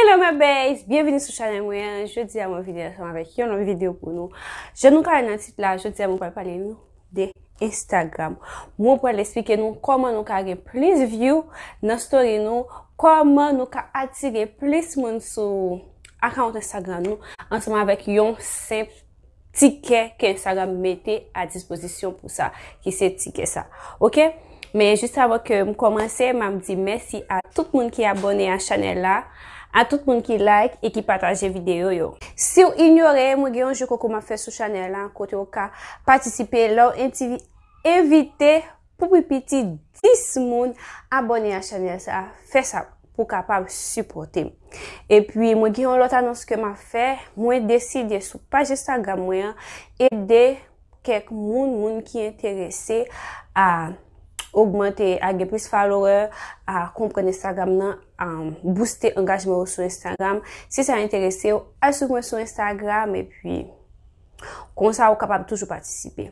Hello my bays, byenvini sou chanel mwen, jodi a mwen vini ansanm avèk yon lòt videyo pou nou. Jan nou ka wè nan tit la, jodi a mwen pral pale nou de Instagram. Mwen pral esplike nou kòman nou ka gen plis view nan story nou, kòman nou ka atire plis moun sou account Instagram nou ansanm avèk yon senp tikè ke Instagram mete a dispozisyon pou sa, ki se tikè sa. Ok? Men, jist avan ke m kòmanse, m ap di mèsi a tout moun ki abòne a chanèl la, a tout moun ki like e ki pataje videyo yo. Si w inyore, mwen gen yon jeu konkou m ap fè sou chanèl la, kote ou ka patisipe lè w envite. Pou pi piti 10 moun abone a chanel sa fè sa pou kapab sipote m. E pi mwen gen yon lot anons ke ma fè, mwen deside sou paj Instagram mwen an ede kek moun, moun ki enterese a ogmante, a gen plis follower, a konprann Instagram nan, a booste angajman yo sou Instagram. Si sa enterese w, al swiv mwen sou Instagram e pi. Konsa ou kapab toujou patisipe.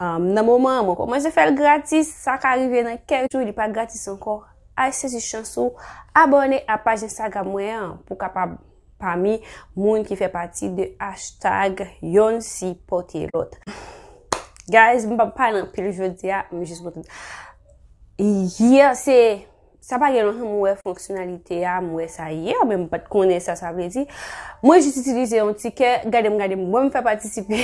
Nan moman an, mwen komanse fè l gratis, sa ka rive nan kèk jou li pa gratis ankò. Al sezi chans ou, abòne a paj Instagram mwen an pou w kapab pami moun ki fè pati de hashtag yonn sipote lòt. Guys, m pa pale anpil jodi a, m jis mwen. Yè se. Sa pa gen lontan mwen wè fonksyonalite a, mwen wè sa yè, men mwen pat konnen sa sa vle di. Mwen jis itilize yon tikè, gade m gade m, mwen m fè patisipe,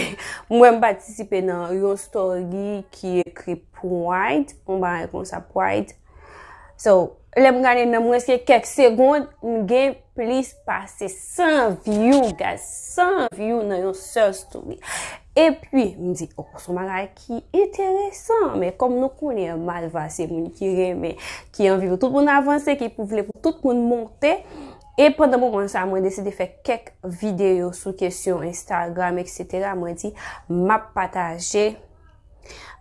mwen m patisipe nan yon story ki ekri pride, yon bagay konsa pride. So, lè m gade nan mwens ke kèk segond, m gen plis pase 100 view guys, 100 view nan yon sèl story. E pi, m di, oh, son bagay ki enteresan men kòm nou konnen malva se moun ki renmen ki anvi pou tout moun avanse ki pou vle pou tout moun monte e pandan moman sa mwen deside fè kèk videyo sou kesyon Instagram etc mwen di m ap pataje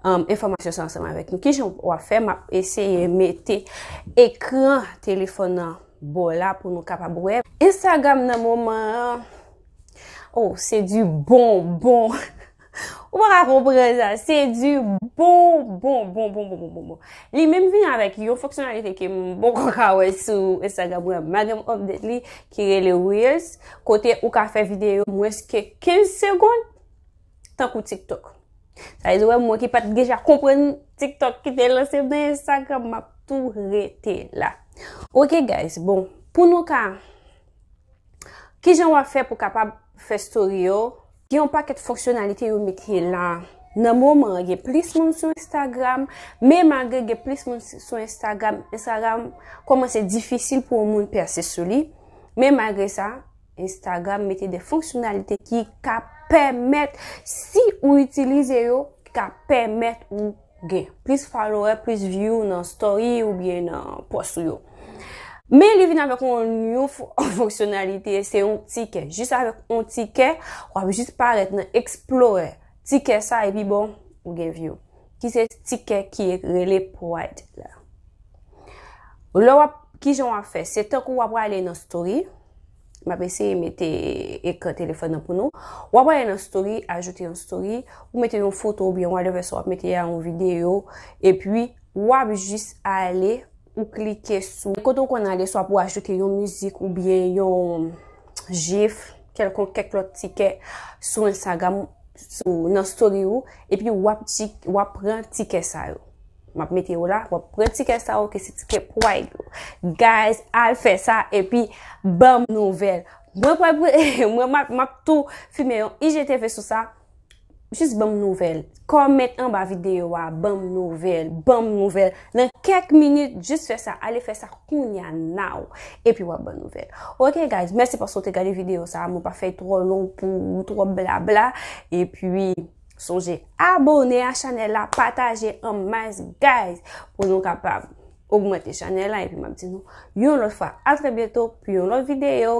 enfomasyon sa ansanm avèk nou ki jan w ap fè m ap eseye mete ekran telefon nan bò la pou nou kapab wè Instagram nan moman an oh se di bon bon Ou pa ka konpran sa. Se du bon bon bon bon bon bon bon bon. Li menm vin avèk yon fonksyonalite ke m poko ka wè sou Instagram mwen an. M pa janm update li ki rele Reels kote ou ka fè videyo mwens ke 15 segond tankou TikTok. Sa vle di ou wè mwen ki pat deja konprann TikTok ki te lanse m nan Instagram m ap tou rete la. Ok guys, bon pou nou ka Kijan wap fè pou kapab fè story yo? Gen yon pakèt fonksyonalite yo mete la. Nan moman an gen plis moun sou Instagram, men malgre gen plis moun sou Instagram, Instagram kòmanse difisil pou yon moun pèse sou li. Men malgre sa, Instagram mete de fonksyonalite ki ka pèmèt si ou itilize yo, ki ka pèmèt ou gen plis follower, plis view nan story ou byen nan post ou yo. Men li vin avèk yon new fonksyonalite, se yon tikè. Jis avèk yon tikè, wap jis parèt nan Explorer. Tikè sa epi bon, ou gen view. Ki se tikè ki rele Pride la. Lè wap, ki jan wap fè? Se tankou wap wale nan story. M ap eseye mete ekran telefòn nan pou nou. W ap ale nan story, ajoute yon story, ou mete yon foto oubyen whatever sa w ap mete a, yon videyo, epi w ap jis ale, ou klike sou kote ou konn ale swa pou ajoute yon mizik oubyen yon jif, kèlkonk kèk lòt ti kè sou Instagram, nan story ou, epi w ap pran ti kè sa yo. Map mete yo la, wap pran tikè sa yo ke se tikè pwayd yo. Guys, al fè sa epi banm nouvel. Mwen pral pre, mwen map tou fime yon IGTV sou sa. Jis banm nouvel. Comment anba video a, banm nouvel, banm nouvel. Nan kèk minit, jis fè sa, ale fè sa kounya now. Epi wap banm nouvel. Ok guys, mèsi paske w te gade video sa. Mwen pa fè tro long pou tro bla bla. Epi... Sonje abone a chanel la pataje an mas guys pou nou kapab ogmante chanel la epi map di nou yon lot fwa atrè byento pou yon lot video.